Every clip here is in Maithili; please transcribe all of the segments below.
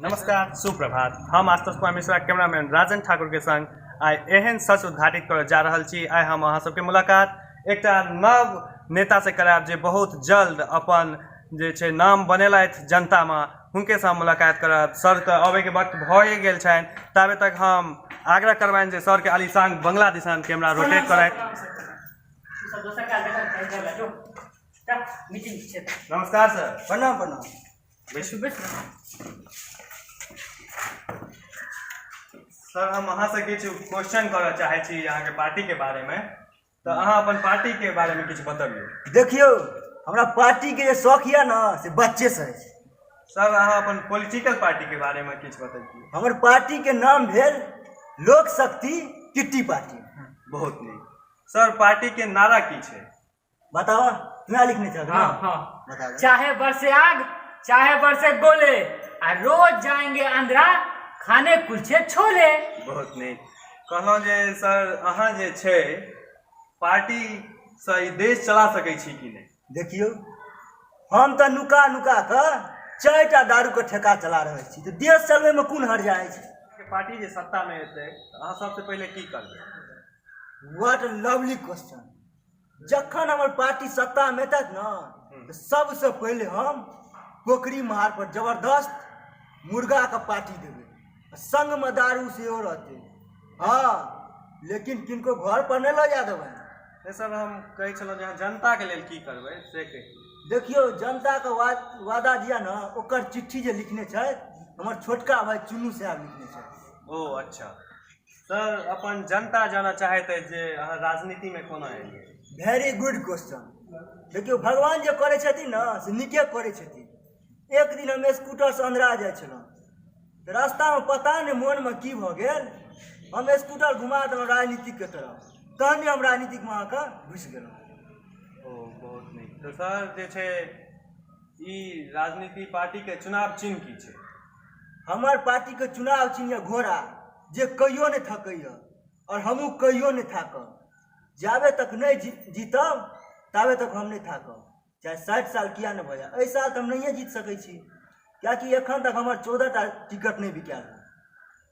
नमस्कार सुप्रभात हम आशुतोष कुमार मिश्रा कैमरामैन राजन ठाकुर के संग आइ एहन सच उद्घाटित करय जा रहल छी आइ हम अहाँ सबके मुलाकात एकटा नव नेता से करायब जे बहुत जल्द अपन जे छै नाम बनेलथि जनतामे हुनके साथ मुलाकात करब सरके अबैके वक्त भए गेल छनि ताबे तक हम आग्रह करबनि जे सरके आलिशान बंगला दिशान कैमरा रोटेट करथि नमस्कार सर प्रणाम प्रणाम बैठू बैठू सर हम अहाँसँ किछु क्वेश्चन करऽ चाहै छी अहाँके पार्टीके बारेमे तऽ अहाँ अपन पार्टीके बारेमे किछु बतबियौ देखियौ हमरा पार्टीके जे शौक यऽ ने से बच्चेसँ अछि सर अहाँ अपन पॉलिटिकल पार्टीके बारेमे किछु बतबियौ हमर पार्टीके नाम भेल लोक शक्ति किट्टी पार्टी बहुत नीक सर पार्टीके नारा की छै बताओ ना लिखने चल हाँ हाँ बता दो। चाहे बरसे आग चाहे बरसे गोले आ रोज जाएंगे अंधरा खाने कुलछे छोले बहुत नीक कहलहुँ जे सर अहाँ जे छै पार्टीसँ ई देश चला सकै छी कि नहि देखियौ हम तऽ नुका नुका कऽ चारि टा दारूके ठेका चला रहल छी तऽ देश चलबैमे कोन हर जाइ छै अहाँके पार्टी जे सत्तामे एतै तऽ अहाँ सबसँ पहिले की करबै व्हाट लवली क्वेश्चन जखन हमर पार्टी सत्ता में तक न हम्म। सबसे पहले हम पोखरी महार पर जबरदस्त मुर्गा के पार्टी देवे संग में दारू से रहते हाँ लेकिन किनको घर पर नहीं लो जा देवे सर हम कहे चलो जहाँ जनता के लिए की करबे से देखियो जनता के वादा दिया ना ओकर चिट्ठी जे लिखने छे हमारे छोटका भाई चुनू साहब लिखने छे ओ अच्छा सर अपन जनता जाना चाहैत अछि जे अहाँ राजनीतिमे कोना एलियै वेरी गुड क्वेश्चन देखियौ भगवान जे करै छथिन ने से नीके करै छथिन एक दिन हम स्कूटरसँ अनरा जाइ छलहुँ तऽ रास्तामे पता नहि मोनमे की भऽ गेल हम स्कूटर घुमा देलहुँ राजनीतिकके तरफ तहन हम राजनीतिकमे अहाँके घुसि गेलहुँ ओ बहुत नीक तऽ सर जे छै ई राजनीति पार्टीके चुनाव चिन्ह की छै हमर पार्टीके चुनाव चिन्ह यऽ घोड़ा जे कहियो नहि थकैए आओर हमहूँ कहियो नहि थाकब जाबे तक नहि जी जीतब ताबे तक हम नहि थाकब चाहे साठि साल किया नहि भऽ जाय एहि साल तऽ हम नहिए जीत सकै छी किएकि एखन तक हमर चौदह टा टिकट नहि बिकायल हँ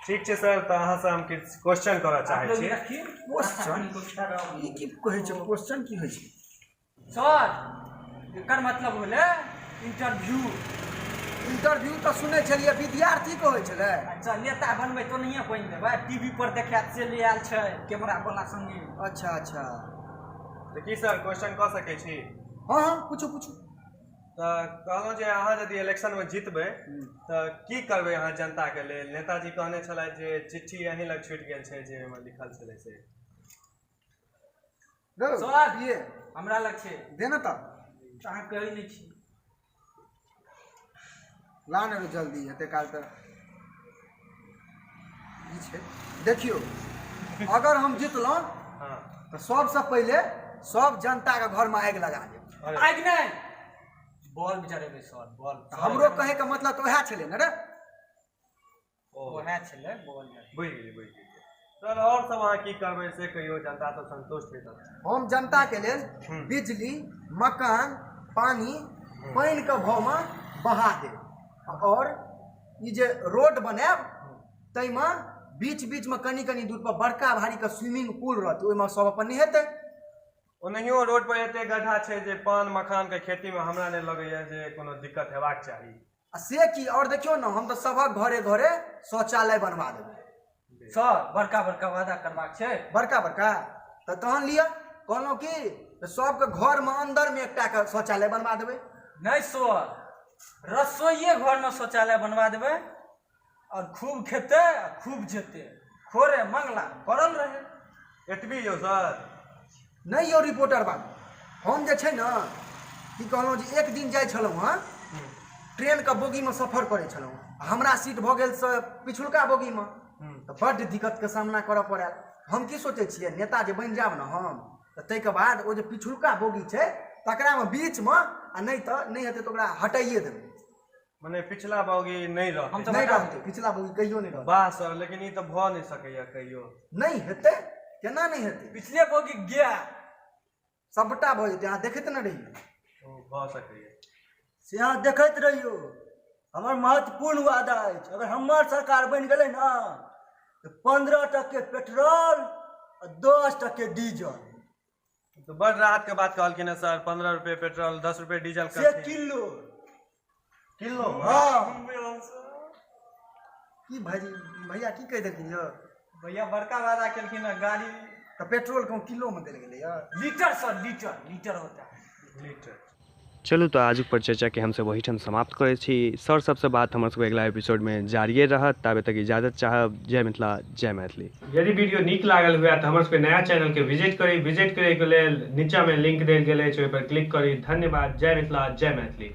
ठीक छै सर तऽ अहाँ से हम किछु क्वेश्चन करऽ चाहै छी क्वेश्चन ई की कहै छै क्वेश्चन की होइ छै सर एकर मतलब होलै इंटरव्यू इंटरव्यू तऽ सुनै छलियै विद्यार्थी के होइ छलै अच्छा नेता बनबै तो नहिए बनि देबै टीवी पर देखायत से ले आयल छै कैमरा वाला संगे अच्छा अच्छा तऽ की सर क्वेश्चन कऽ सकै छी हँ हँ पूछू पूछू तऽ कहलहुँ जे अहाँ यदि इलेक्शनमे जीतबै तऽ की करबै अहाँ जनताके लेल नेताजी कहने छलथि जे चिट्ठी अहीं लग छूटि गेल छै जे ओहिमे लिखल छलै से धौ, सोना दिए हमरा लग छै दे ने तऽ अहाँ कहै नहि छी ला ने रे जल्दी एते काल तऽ ई छै देखियौ अगर हम जितलहुँ हाँ तऽ सबसँ पहिले सब जनताके घरमे आगि लगा देब अरे। आगि नहि बॉल बेचारे के शॉट बॉल तऽ हमरो कहैके मतलब तऽ उएह छलै ने रे ओएह छलै बोल बुझि गेलियै बुझि गेलियै सर आओर सब अहाँ की करबै से कहियो जनता सब संतुष्ट हेतै हम जनताके लेल हूँ। बिजली मकान पानी पानिके भावमे बढ़ा देब आओर ई जे रोड बनायब ताहिमे बीच बीचमे कनि कनि दूर पर बड़का भारीके स्विमिंग पूल रहतै ओहिमे सब अपन नहेतै ओनाहियो रोड पर एते गड्ढा छै जे पान मखान के खेती मे हमरा नहि लगैया जे कोनो दिक्कत हेबाक चाही आ से की और देखियो ना हम तो सबक घरे घरे शौचालय बनवा देबै सर बड़का बड़का वादा करबाक छै बड़का बड़का तो तहन लिअ कहलहुँ की तऽ सबके घरमे अन्दरमे एकटाके शौचालय बनवा देबै नहि सर रसोइये घरमे शौचालय बनवा देबै आओर खूब खेतै आओर खूब जेतै खोरे मङ्गला पड़ल रहै एतबी यौ सर नहि यौ रिपोर्टर बाबू हम जे छै ने की कहलहुँ जे एक दिन जाइ छलहुँ हँ ट्रेनके बोगीमे सफर करै छलहुँ हँ हमरा सीट भऽ गेल से पिछुलका बोगीमे तऽ बड्ड दिक्कतके सामना करऽ पड़ल हम की सोचै छियै नेता जे बनि जायब ने हम तऽ ताहिके बाद ओ जे पिछुलका बोगी छै तकरामे बीचमे आ नहि तऽ नहि हेतै तऽ ओकरा हटाइए देबै मने पिछला बौगी नहि रहत हम तऽ नहि बता रहतै पिछला बौगी कहियो नहि रहतै वाह सर लेकिन ई तऽ भऽ नहि सकैए कहियो नहि हेतै केना नहि हेतै पिछले बोगी गया सभटा भऽ जेतै अहाँ देखैत ने रहियौ ओ भऽ सकैए से अहाँ देखैत रहियौ हमर महत्वपूर्ण वादा अछि अगर हमर सरकार बनि गेलै ने तऽ पंद्रह टके पेट्रोल आ दस टके डीजल तो बड़ राहत के बात कहलखिन है सर पंद्रह रुपए पेट्रोल दस रुपए डीजल से करथिन। किलो किलो हाँ की भाजी भैया की कहि देलखिन यौ भैया बड़का वादा केलखिन है गाड़ी तऽ पेट्रोल कम किलो मे देल गेलै यौ लीटर सर लीटर लीटर होता है लीटर चलू तऽ आजुक परिचर्चाके हमसभ ओहीठाम समाप्त करै छी सर सभसँ बात हमर सभके अगिला एपिसोडमे जारिए रहत ताबे तक इजाजत चाहब जय मिथिला जय मैथिली यदि वीडियो नीक लागल हुए तऽ हमर सभके नया चैनलके विजिट करी विजिट करैके लेल नीचाँमे लिंक देल गेल अछि ओहिपर क्लिक करी धन्यवाद जय मिथिला जय मैथिली